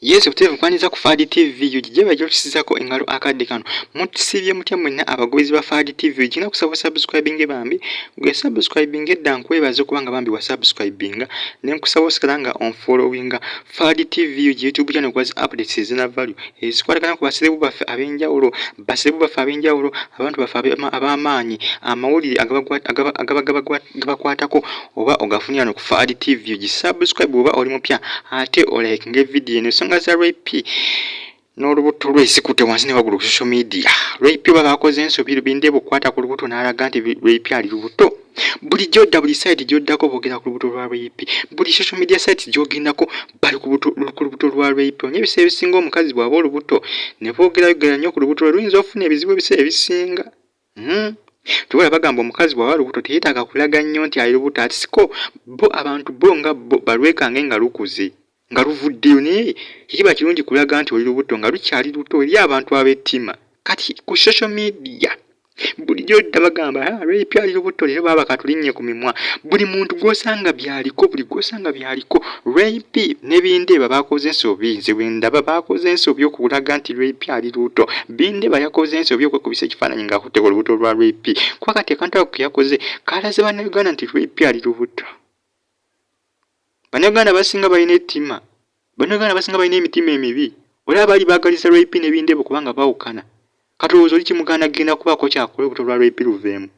Yesu buteevu kwaniriza ku Fadi TV ug gye bajja otusizako engalo akadde kano mutusibye mutya mwenna abagoberezi ba Fadi TV ug nga kusaba subscribing bambi gwe subscribing edda nkwebaza okuba nga bambi wa subscribing ne nkusaba osigala nga on following Fadi TV ug YouTube channel kwazi updates ezina value ezikwatagana ku baserebu baffe ab'enjawulo basebu baffe ab'enjawulo abantu baffe ab'amaanyi amawulire agaba gabakwatako oba ogafunira no ku faad tv gisubscribe oba oli mupya ate olaike ngaevidiyo eno ensonga za rp n'olubuto lwe sikute wansi ne wagulu ku social media rp oba bakoze ensobi lubinde bukwata ku lubuto n'alaga nti rp ali lubuto bulijjo dda buli site gyoddako bogera ku lubuto lwa rape buli social media site gyogendako bali ku lubuto lwa rape onye ebiseera ebisinga omukazi bwaba olubuto ne bogerayogera nnyo ku lubuto lwe luyinza okufuna ebizibu ebiseera ebisinga hmm. tubala bagamba omukazi bwaba lubuto teyetaaga kulaga nnyo nti ali lubuto atisiko bo abantu bo nga bo balwekange nga lukuze nga luvuddeyo naye tekiba kirungi kulaga nti oli lubuto nga lukyali luto eri abantu ab'ettima kati ku social media bulijjo dda bagamba ah, lwepya ali lubuto leero baaba katulinnye ku mimwa buli muntu gw'osanga byaliko buli gw'osanga byaliko lwempi nebindeeba baakoze ensobi nze bwendaba baakoze ensobi okulaga nti lwepi ali lubuto bindeeba yakoze ensobi okwekubisa ekifaananyi ng'akutteko olubuto lwa lwepi kuba kati akantu ako keyakoze kaalaze bannauganda nti lwepi ali lubuto Bannayuganda abasinga balina ettima. Bannayuganda abasinga balina emitima emibi. Oli abaali baagaliza Roy P ne Bindebo kubanga bawukana. Kati olowooza oli Kimuganda agenda kubaako ky'akola olubuto lwa Roy P luveemu?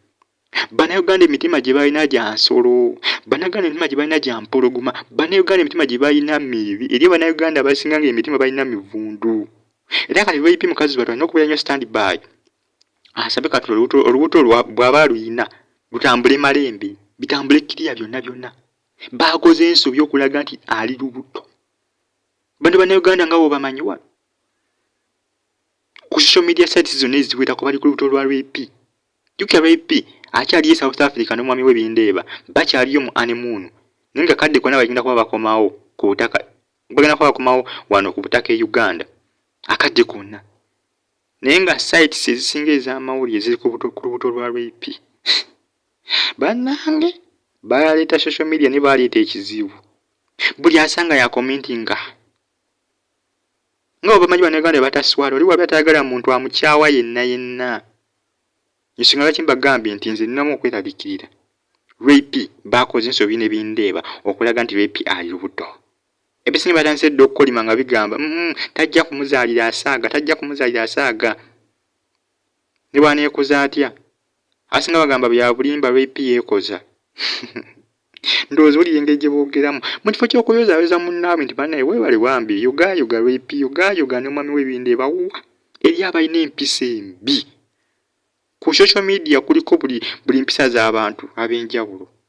Bannayuganda emitima gye balina gya nsolo. Bannayuganda emitima gye balina gya mpologoma. Bannayuganda emitima gye balina mibi. Eriyo Bannayuganda abasinga ng'emitima balina mivundu. Era kati Roy P mukazi wattu alina okubeera nnyo stand by. Asabe ah, kati olubuto bw'aba aluyina lutambule malembe, bitambule kiriya byonna byonna. baakoze ensobi okulaga nti ali lubuto bano banauganda nga bobamanyi wano ku social media sites zonna eziwerako bali ku lubuto lwa rap jukira rap akyaliyo e south africa n'omwami we bindeeba bakyaliyo mu anemuunu naye nga kadde kona bagenda kuba bakomawo ku butaka bagenda kuba bakomawo wano ku butaka e uganda akadde konna naye nga sites ezisinga ez'amawulire ziri ku lubuto lwa rap banange baleta social media ne baleta ekizibu buli asanga ya commentinga nga obamanyi banaganda bataswala oli wabe atayagala muntu amukyawa yenna yenna nsonga lwaki mbagambye nti nze ninamu okwerabikirira rape bakoze ensobi ne bindeeba okulaga nti rape ali lubuto ebisinga batandise dda okukolima nga bigamba mm, tajja kumuzaalira asaaga tajja kumuzaalira asaaga ne bwaneekoza atya asinga bagamba byabulimba rip yeekoza ndowooza wulira engeri gye boogeramu mu kifo ky'okuyozaayoza munnaabwe nti banaye weebale bambi yogaayoga rip yogaayoga ne omwami w'ebindi ebawuwa eri abalina empisa embi ku social media kuliko buli buli mpisa z'abantu ab'enjawulo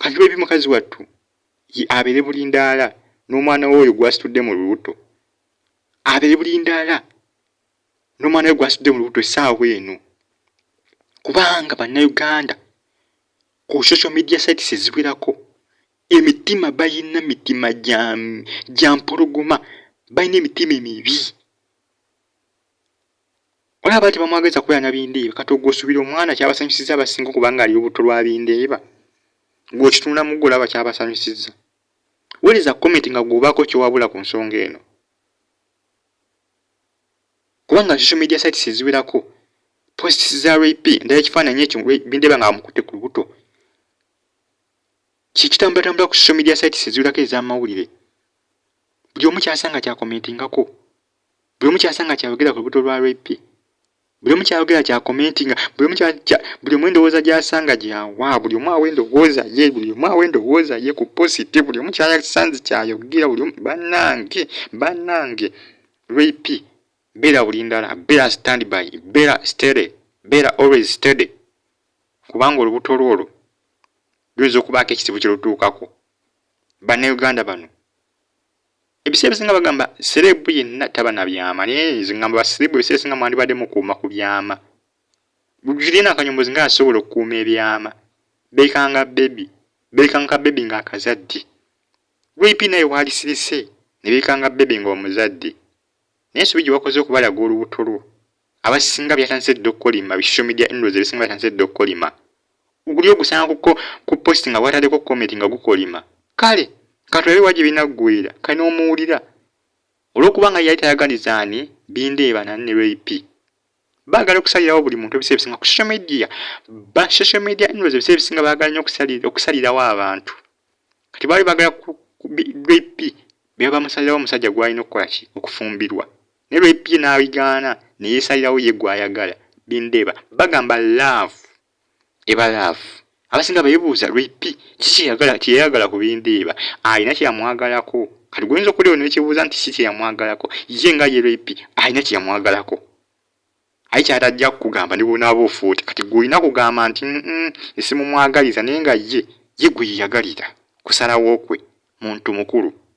Kati bebi mukazi wattu ye abeere bulindaala n'omwana we oyo gwasitudde mu lubuto, abeere bulindaala n'omwana we gwasitudde mu lubuto essaawa eno, kubanga bannayuganda ku social media sites eziwerako emitima balina mitima gya mpologoma, balina emitima emibi. Olaba bati bamwagaliza kubeera na bindeeba kati ogwosubira omwana kyabasanyusiza abasinga okubanga ali obutto lwa bindeeba gwokitunula muggo olaba kyabasanyusiza wereza komenti nga gwobaako kyowabula ku nsonga eno kubanga social media sites eziwerako posts za rap ndala ekifaananyi ekyo bindeeba nga bamukutte ku lubuto kyekitambulatambula ku social media sites eziwerako ez'amawulire buli omu kyasanga kyakomentingako buli omu kyasanga kyayogera ku lubuto lwa repi buli omu kyayogera kya komenti nga buli omu buli omu endowooza gyasanga gyawa buli omu awa endowooza ye buli omu awa endowooza ye ku positi buli omu kyayasanze kyayogera buli omu banange banange repi beera buli ndala beera stand by beera stere beera always stede kubanga olubuto lwo olwo luyinza okubaako ekizibu kye lutuukako bannauganda bano ebiseera ebisinga bagamba serebu yenna taba na byama naye nze ngamba baserebu ebiseera ebisinga mwandibadde mukuuma ku byama gulina akanyombozi nga asobola okukuuma ebyama beekanga bebi beekanga ka bebi nga akazadde vip naye waalisirise ne beekanga bebi nga omuzadde naye ensobi gye wakoze okubalaga olubuto lwo abasinga byatandise dda okukolima bi social media handles ebisinga byatandise dda okukolima guli ogusanga kuko ku post nga watadeko comment nga gukolima kale katulabe waje binagwira kali nomuwulira olwokuba nga yali tayaganiza ani bindeeba nani ne rap bagala okusalirawo buli muntu ebiseera ebisinga ku social media ba social media handles ebiseera ebisinga bagala nyo okusalirawo abantu kati baali bagala rap bebamusalirawo omusajja gwalina okukola ki okufumbirwa ne lwebbye n'abigaana ne yeesalirawo ye gw'ayagala bindeba bagamba laavu eba laavu abasinga beebuuza lwepi kiki kyeyayagala ku bindeeba alina kyeyamwagalako kati gwoyinza okulewo nekyebuuza nti si kyeyamwagalako ye nga ye lwepi alina kyeyamwagalako aye kyatajja kukugamba ne bwonaaba ofuuti kati gwolina kugamba nti esimumwagaliza naye nga ye ye gwe yeyagalira kusalawo kwe muntu mukulu